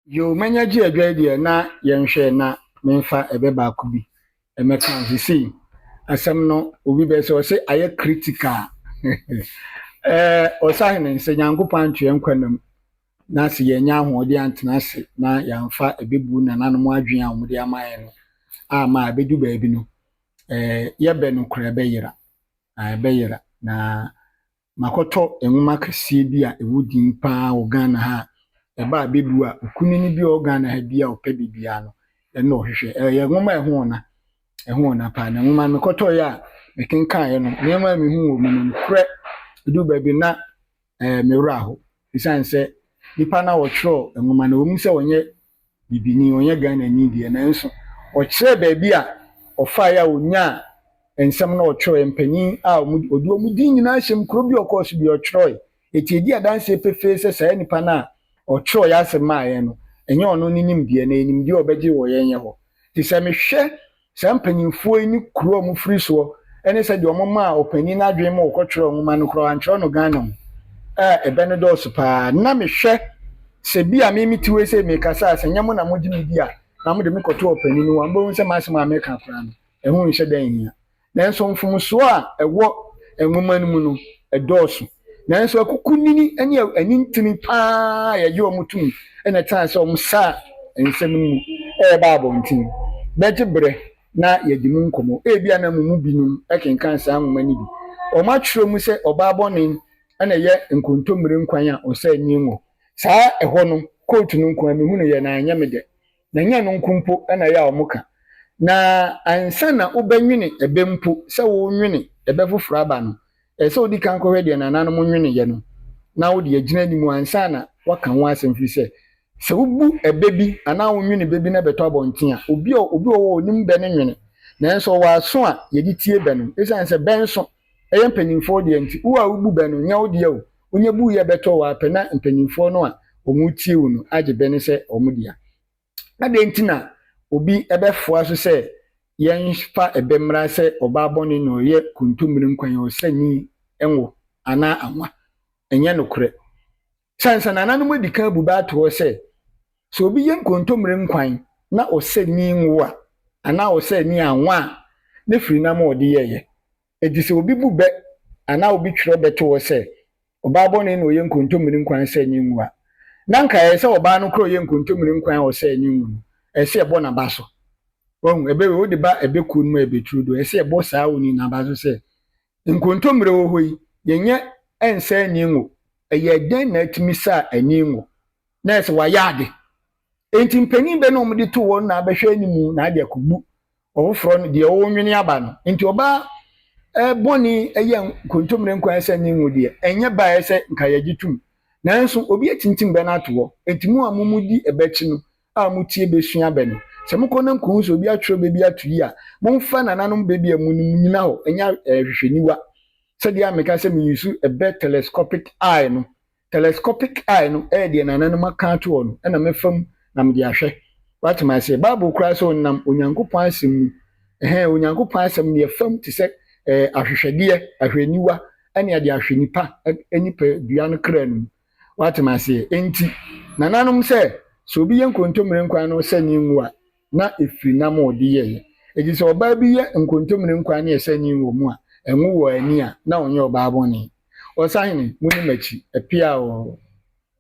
Yoo mɛnya gye adwae deɛ na yɛnhwɛ na menfa ɛbɛ baako bi ɛmɛka ho sesei asɛm no obi bɛyɛ sɛ ɔse ayɛ critical ɛɛ ɔsahene sɛ Nyankopɔn anto yɛn nkwa nna mu na sɛ yɛannya ahoɔden antena ase na yɛamfa ɛbɛ bu nananom adwene a wɔde ama yɛn no ama a ɛbɛdu baabi no ɛɛ yɛbɛ no kora ɛbɛyera ɛbɛyera na Makɔtɔ nwoma kɛseɛ bi a ɛwɔ din pa ara wɔ Ghana ha a, ɛba a bɛbu a okunini bi a ɔwɔ Ghana ha biara a ɔpɛ biribiara no, ɛno na ɔhwehwɛ. Ɛyɛ nwoma a ɛho ɔna. Ɛho ɔna pa ara. Na nwoma no mekɔtɔeɛ a, mekenkaneeɛ no, nneɛma a mehuu wɔ mu no, nokorɛ, ɛduru baabi no na ɛyɛ me werɛ ahow. Esiane sɛ nipa no a ɔtwerɛɛ nwoma no, ɛwom sɛ ɔnyɛ bibini, ɔnyɛ Ghanani deɛ, nanso ɔkyerɛɛ baabi a ɔfaeɛ a ɔnyaa nsɛm no a ɔtwerɛeɛ, mpanin a ɔde wɔn din nyinaa hyɛm, kuro bi a ɔkɔɔ so biara ɔtwerɛeɛ. Enti ɛdi adanseɛ pefee sɛ saa nipa no a ɔtwerɛeɛ asɛm maa yɛn no, ɛnyɛ ɔno ne nimdeɛ, na ɛyɛ nimdeɛ a ɔbɛgye wɔ yɛn yɛ hɔ. Enti sɛ mehwɛ Saa mpanyimfoɔ yi ne kuro a wɔfiri soɔ ne sɛdeɛ wɔmaa ɔpanin no adwene ma ɔkɔtwerɛɛ nwoma no koraa wɔantwerɛ no Ghana mu a ɛbɛ no dɔɔso pa ara. Ná mehwɛ sɛ bi a me mete hɔ yi sei mekasa a, sɛ nyɛ mo na mogye me di a, na mode me kɔto ɔpanin no hɔ a, mobɛhu sɛ m'asɛm a meka koraa no, ɛho nhyɛ da nhia. Nanso mfomsoɔ a ɛwɔ nwoma no mu no, ɛdɔɔso. Nanso akukunini ne anintini pa ara a yɛgye wɔn tom na ɛtena sɛ wɔsaa nsɛm no mu reba abɔnten bɛgye bere na yɛadi mu nkɔmmɔ. Ebia na mo mu binom kenkan saa nwoma no bi. Wɔatwerɛ mu sɛ ɔbaa bɔne na ɛyɛ nkontommire nkwan a ɔsɛe nni wɔ saa ɛhɔ no. Kootu no nko ara mehunuu yɛ na anyɛ me dɛ. Na ɛnyɛ ɛno nko mpo na ɛyɛ a wɔka, na ansa na wobɛnwene ɛbɛ mpo, sɛ worenwene ɛbɛ foforɔ aba no, ɛsɛ sɛ wodi kan kɔhwɛ deɛ nananom nweneeɛ no, na wode agyina anim ansa na woaka ho asɛm, ɛfiri sɛ, sɛ wobu ɛbɛ bi anaa wonwene bɛ bi na ɛbɛtɔ abɔnten a, obi a ɔwɔ hɔ a ɔnim bɛ no nwene, nanso ɔwɔ aso a yɛde tie bɛ no, ɛsiane sɛ bɛ nso ɛyɛ mpanyimfoɔ deɛ nti wo a wo bu bɛ no nyɛ wo dea o wonya bu yɛ bɛtɔ wo ara pɛ na mpanyimfoɔ no a wɔn retie wo no agye bɛ no sɛ wɔn dea adɛn nti na obi bɛ foa so sɛ yɛn fa ɛbɛ mmra sɛ ɔbaa bɔne na ɔyɛ kontommire nkwan ɔsɛ ni nwo anaa anwa ɛnyɛ nokorɛ Sɛ ansa nananom adi kan abu bɛ ato hɔ sɛ, sɛ obi yɛ nkontommire nkwan na ɔsɛ nni ngo a, anaa ɔsɛ nni anwa a, ne firi nam a ɔde yɛeɛ. Enti sɛ obi bu bɛ anaa obi twerɛ bɛ to hɔ sɛ, ɔbaa bɔne na ɔyɛ nkontommire nkwan a ɔsɛ nni ngo a, na anka ɛyɛ sɛ ɔbaa no koraa a ɔyɛ nkontommire nkwan a ɔsɛ nni ngo no, ɛsɛ sɛ ɛbɔ n'aba so. Wahu? Ɛbɛ wei, wode ba ɛbɛ kuo no mu a ɛbɛ turo do, ɛsɛ sɛ ɛbɔ saa onii n'aba so sɛ, Nkontommire wɔ hɔ yi, yɛnyɛ ɛnsɛ ani ngo. Ɛyɛ dɛn na atumi sa ani ngo? Na ɛsɛ wɔayɛ ade. Enti mpanin bɛ na wɔde to wɔn na abɛhwɛ ne mu na ade akobu ɔfoforɔ no deɛ ɔrenwene aba no. Enti ɔbaa bɔne yɛ nkontommire nko ara sɛ ani ngo deɛ, ɛnyɛ bɛ a ɛsɛ nka yɛgye tom. Nanso obi atintim bɛ no ato hɔ. Enti mo a mo mu di ɛbɛ akyi no, a motie besua bɛ no. Sɛ mokɔ na mukohu sɛ obi atwerɛ bɛ bi ato yi a, momfa nananom bɛ bi a monim nnyina hɔ nyɛ ahwehwɛniwa. Sɛdeɛ a meka sɛ meyusu bɛ telescopic eye no, telescopic eye no yɛ deɛ nananom aka ato hɔ no na mɛfa mu na mede ahwɛ. Woate me aseɛ? Bible koraa sɛ ɔnam Onyankopɔn Asɛm mu, ɛhɛɛ, Onyankopɔn Asɛm no yɛfa mu te sɛ ahwehwɛdeɛ, ahwɛniwa, ne adeɛ ahwɛ nipa nipadua no kra no mu. Woate m'aseɛ? Enti, nananom, sɛ, sɛ obi yɛ nkontommire nkwan na ɔsɛ ne ngo a, na ɛfiri nam a ɔde yɛeɛ. Enti sɛ ɔbaa bi yɛ nkontommire nkwan na ɛsɛ ne ngo mu a, ɛngo wɔ ani a, na ɔnyɛ ɔbaabɔne. Ɔsahene, monni m'akyi. Ɛpea oo.